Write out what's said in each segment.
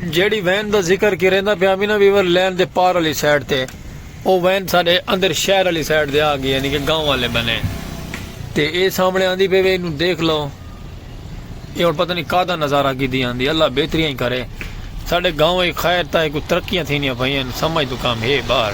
جیڑھی when the ذکر کرینداں پیاں ہمیں نا ویور لین دے پار آلی سائیڈ تے او وین ساڈے اندر شہر آلی سائیڈ تے آگئی یعنی کہ گاؤں آلے بنے تے اے سامنے آندی پئی وے اینوں دیکھ لو اے ہن پتہ نہیں کادا نظارہ کیتی آندی اللہ بہتریاں ہی کرے ساڈے گاؤں اچ خیر تاں کوئی ترقیاں تھینیاں پئیاں سمجھ توں کم ہے باہر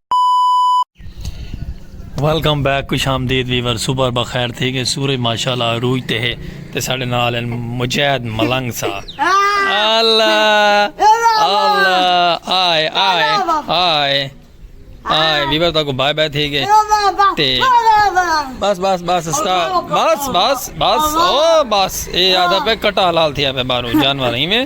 ویلکم بیک خوش آمدید ویور صبح بخیر تھی گئے سورج ماشاءاللہ عروج تے ہے تے ساڈے نال ہیں مجاہد ملنگ سا اللہ اللہ آئے آئے آئے آئے ویور تاکو بائے بائے تھی گئے تے بس بس بس استا بس بس بس او بس اے آدھا پہ کٹا لال تھی آپے بارو جانور ہی میں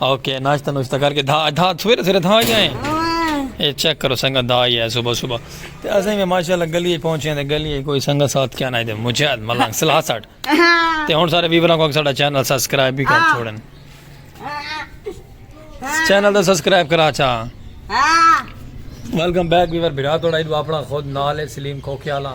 اوکے ناشتہ نوشتہ کر کے دھا دھا سویرے سویرے دھا ہی آئے اے چیک کرو سنگا دھا ہی آئے صبح صبح تے اسیں میں ماشاءاللہ گلی پہنچے ہیں تے گلی کوئی سنگا ساتھ کیا نہ دے مجھے ملنگ سلحہ ساٹھ تے ہون سارے ویوروں کو ساڑا چینل سبسکرائب بھی کر چھوڑن چینل دا سبسکرائب کرا چاہ ویلکم بیک ویور بھرا توڑا ایڈو اپنا خود نال ہے سلیم کھوکھیالا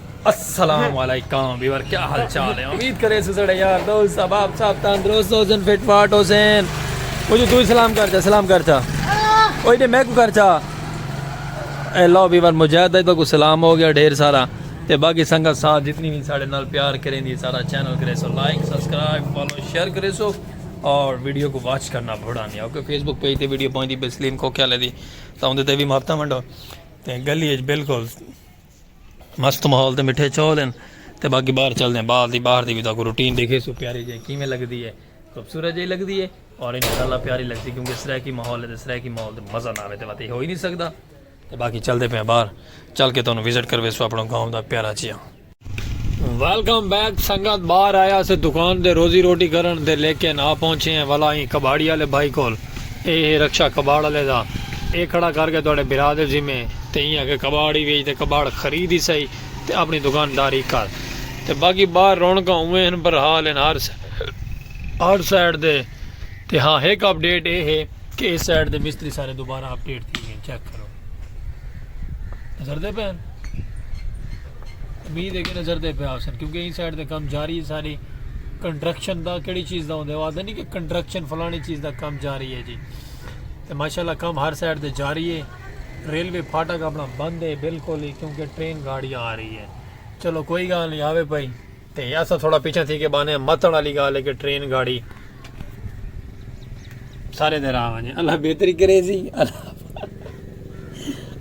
السلام علیکم ویور کیا حال چال ہے امید کرے سو سڑے یار دوست صاحب آپ صاحب تندرست ہو سن فٹ فاٹ ہو سن وہ جو تو سلام کر چا سلام کر چا اوہ دے میں کو کر چا اے لو ویور مجاہد ہے کو سلام ہو گیا ڈھیر سارا تے باقی سنگت ساتھ جتنی بھی ساڑے نال پیار کریں دی سارا چینل کرے سو لائک سبسکرائب فالو شیئر کرے سو اور ویڈیو کو واچ کرنا بھڑا نہیں اوکے فیس بک پیج تے ویڈیو پہنچ دی بسلیم کو کیا لے دی تو اندھے تے بھی ماپتا منڈو تے گلی اچ بالکل مست ماحول تے مٹھے چول ہیں تے باقی باہر چلدے ہیں باہر دی باہر دی بھی تاکو روٹین دیکھے سو پیاری جائے کیویں لگدی ہے خوبصورت جائے لگدی ہے اور انشاءاللہ پیاری لگدی کیونکہ سرے کی ماحول ہے تے سرے کی ماحول تے مزہ نہ آوے تے وتے ہو ہی نہیں سکدا تے باقی چلدے پے باہر چل کے تانوں وزٹ کروے سو اپنا گاؤں دا پیارا جیا ویلکم بیک سنگت باہر آیا سے دکان دے روزی روٹی کرن دے لیکن آ پہنچے ہیں والا ہی کباڑی والے بھائی کول اے ہے رکشہ کباڑ آلے دا۔ اے کھڑا کر کے تہاڈے بھرا دے ذمے تے ایہہ آکھے کباڑ ہی ویچ تے کباڑ خرید ہی سہی تے اپنی دکان داری کر تے باقی باہر رونقاں اوویں ہن پر حال ہن ہر ہر سائیڈ دے تے ہاں ہک اپ ڈیٹ اے ہے کہ اس سائیڈ دے مستری سارے دوبارہ اپ ڈیٹ تھی گئن چیک کرو۔ نظر دے پہ امید ہے کہ نظر دے پہ آسن کیونکہ این سائڈ دے کام جاری ہے ساری کنٹرکشن دا کیڑی چیز دا ہوندے وہ آدھے نہیں کہ کنٹرکشن فلانی چیز دا کام جاری ہے جی تو ماشاءاللہ کام ہر سائڈ دے جاری ہے ریلوے پھاٹک اپنا بند ہے بالکل ہی کیونکہ ٹرین گاڑیاں آ رہی ہے چلو کوئی گال نہیں آوے پائی تے اساں تھوڑا پچھاں تھی کے بانے متڑ آلی گال ہے کہ ٹرین گاڑی سارے دے راہ ونجے اللہ بہتری کرے سی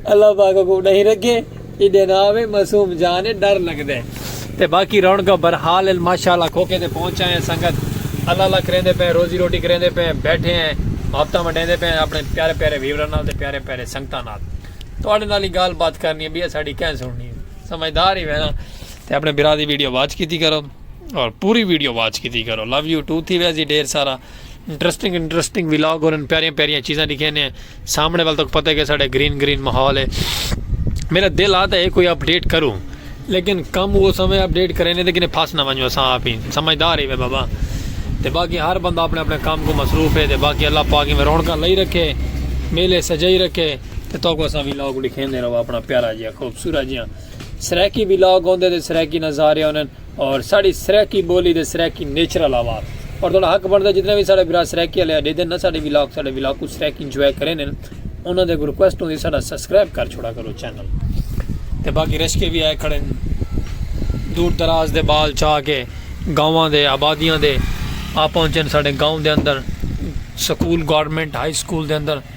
اللہ پاک کو نہیں رکھے ایڈے نہ آوے معصوم جان ہے ڈر لگ دے تے باقی رون کا برحال ماشاءاللہ کھوکے تے پہنچا ہے سنگت اللہ اللہ کریں دے پہ روزی روٹی کریں دے پہ بیٹھے ہیں محبتہ منڈیں دے پہ اپنے پیارے پیارے ویورن نال تے پیارے پیارے سنگتہ نال تو اڑے نالی گال بات کرنی ہے بھی اساڑی کہیں سننی ہے سمجھدار ہی وینا تے اپنے بھرا دی ویڈیو واچ کیتی کرو اور پوری ویڈیو واچ کیتی کرو لو یو ٹو تھی ویسی ڈھیر سارا انٹرسٹنگ انٹرسٹنگ ولاگ اور ان پیاریاں پیاریاں چیزاں دکھے نے سامنے وال تک پتہ کہ ساڑے گرین گرین ماحول ہے میرا دل آتا ہے کوئی اپڈیٹ کروں لیکن کم وہ سمے اپڈیٹ کرے نے لیکن پھاس نہ ونجو سا آپ ہی سمجھدار ہی بابا تے باقی ہر بندہ اپنے اپنے کام کو مصروف ہے تے باقی اللہ پاک میں رونکا لئی رکھے میلے سجائی رکھے تے تو کو سا ولاگ دکھے نے رہو اپنا پیارا جی خوبصورت جی سرائیکی ولاگ ہوندے تے سرائیکی نظارے ہونن اور ساڑی سرائیکی بولی دے سرائیکی نیچرل آواز اور تہاڈا حق بندا ہے جتنے وی ساڑے بھرا سرائیکی آلے اڈے دن نا ساڑے ولاگ ساڑے ولاگ کو سرائیکی انجوائے کرے نن انہاں دے ریکویسٹ ہوندی ساڑا سبسکرائب کر چھوڑا کرو چینل تے باقی رشکے بھی آئے کھڑے دور دراز دے بال چاہ کے گاؤں دے آبادیاں دے آ پہنچن ساڑے گاؤں دے اندر سکول گورنمنٹ ہائی سکول دے اندر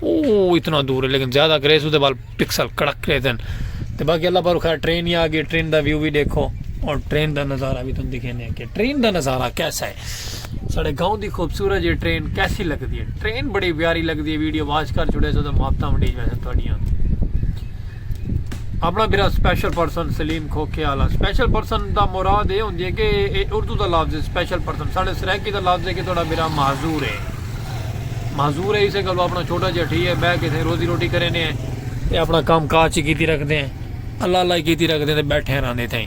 او اتنا دور ہے لیکن زیادہ گریس دے بال پکسل کڑک رہے تھے تے باقی اللہ پر خیر ٹرین ہی آ گئی ٹرین دا ویو بھی دیکھو اور ٹرین دا نظارہ بھی تم دکھے نہیں کہ ٹرین دا نظارہ کیسا ہے ساڑے گاؤں دی خوبصورت یہ ٹرین کیسی لگ دی ہے ٹرین بڑی پیاری لگ دی ہے ویڈیو واچ کر چھوڑے سو تو محبتہ منڈی جوائے سن تھوڑیاں اپݨا بھرا سپیشل پرسن سلیم کھوکھے آلا سپیشل پرسن دا مراد اے ہوندی اے کہ اے اردو دا لفظ اے سپیشل پرسن ساݙے سرائیکی دا لفظ اے کہ تہاݙا بھرا معذور اے معذور اے اسے گلوں اپݨا چھوٹا جیہا ٹھی اے ٻہہ کے سئیں روزی روٹی کریندے ہیں تے اپݨا کم کاج کیتی رکھدے ہیں اللہ اللہ کیتی رکھدے ہیں تے ٻیٹھے رہندے تھئیں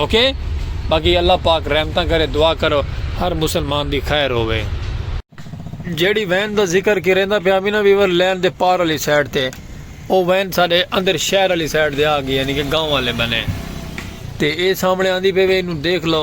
اوکے باقی اللہ پاک رحمتاں کرے دعا کرو ہر مسلمان دی خیر ہووے۔ جیڑی وین دا ذکر کیریندا پیا وی نا ویور لین دے پار آلی سائیڈ تے او وین ساڈے اندر شہر آلی سائیڈ تے آ گئی یعنی کہ گاؤں آلے بنے تے اے سامنے آندی پئی وے اینوں دیکھ لو۔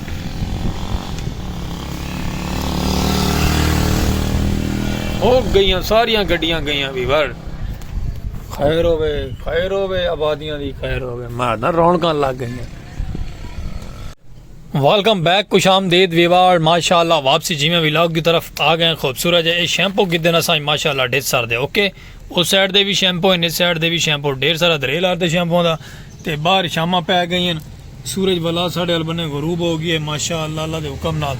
ہو گئیاں ساریاں گڈیاں گئیاں وی وڑ خیر ہوے خیر ہوے آبادیاں دی خیر ہوے مار نہ رونکاں لگ گئیاں ویلکم بیک خوش آمدید ویوار ماشاءاللہ واپسی جیویں ویلاگ دی طرف آ گئے خوبصورت ہے اے شیمپو گدن اساں ماشاءاللہ ڈیس سر دے اوکے اس سائیڈ دے وی شیمپو ہن اس سائیڈ دے وی شیمپو ڈھیر سارا دھرے لار تے شیمپو دا تے باہر شاماں پے گئی ہن سورج بلا ساڈے ال بنے غروب ہو گئی ہے ماشاء اللہ اللہ دے حکم نال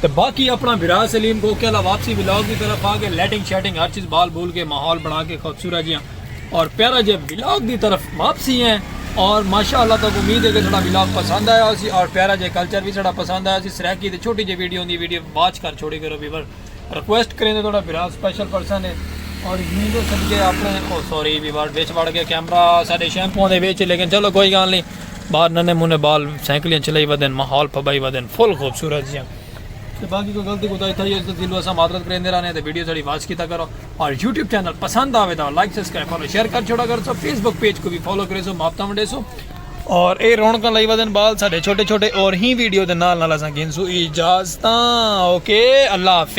تے باقی اپنا بھرا سلیم کو کہلا واپسی ولاگ دی طرف آ کے لیٹنگ شیٹنگ ہر چیز بال بول کے ماحول بنا کے خوبصورت جیاں اور پیارا جے ولاگ دی طرف واپسی ہیں اور ماشاء اللہ تک امید ہے کہ سڑا ولاگ پسند آیا ہو سی اور پیارا جے کلچر بھی سڑا پسند آیا سی سریکی تے چھوٹی جے ویڈیو ہوندی ویڈیو واچ کر چھوڑی کرو ویور ریکویسٹ کریندے تھوڑا برا سپیشل پرسن ہے اور یوں دے صدقے اپنے او سوری بھی بار بیچ بڑ گیا کیمرہ ساڈے شیمپو دے بیچ لیکن چلو کوئی گال نہیں باہر ننے منے بال سائیکلیاں چلائی ودن ماحول پھبائی ودن فل خوبصورت جیاں تے باقی کوئی غلطی کوتا تھا یہ دل واسا معذرت کریندے رہنے تے ویڈیو ساڈی واچ کیتا کرو اور یوٹیوب چینل پسند آوے تا لائک سبسکرائب فالو شیئر کر چھوڑا کر سو فیس بک پیج کو بھی فالو کرے سو ماپتا ونڈے سو اور اے رونکاں لائی ودن بال ساڈے چھوٹے چھوٹے اور ہی ویڈیو دے نال نال اساں گھنسو اجازتاں اوکے اللہ حافظ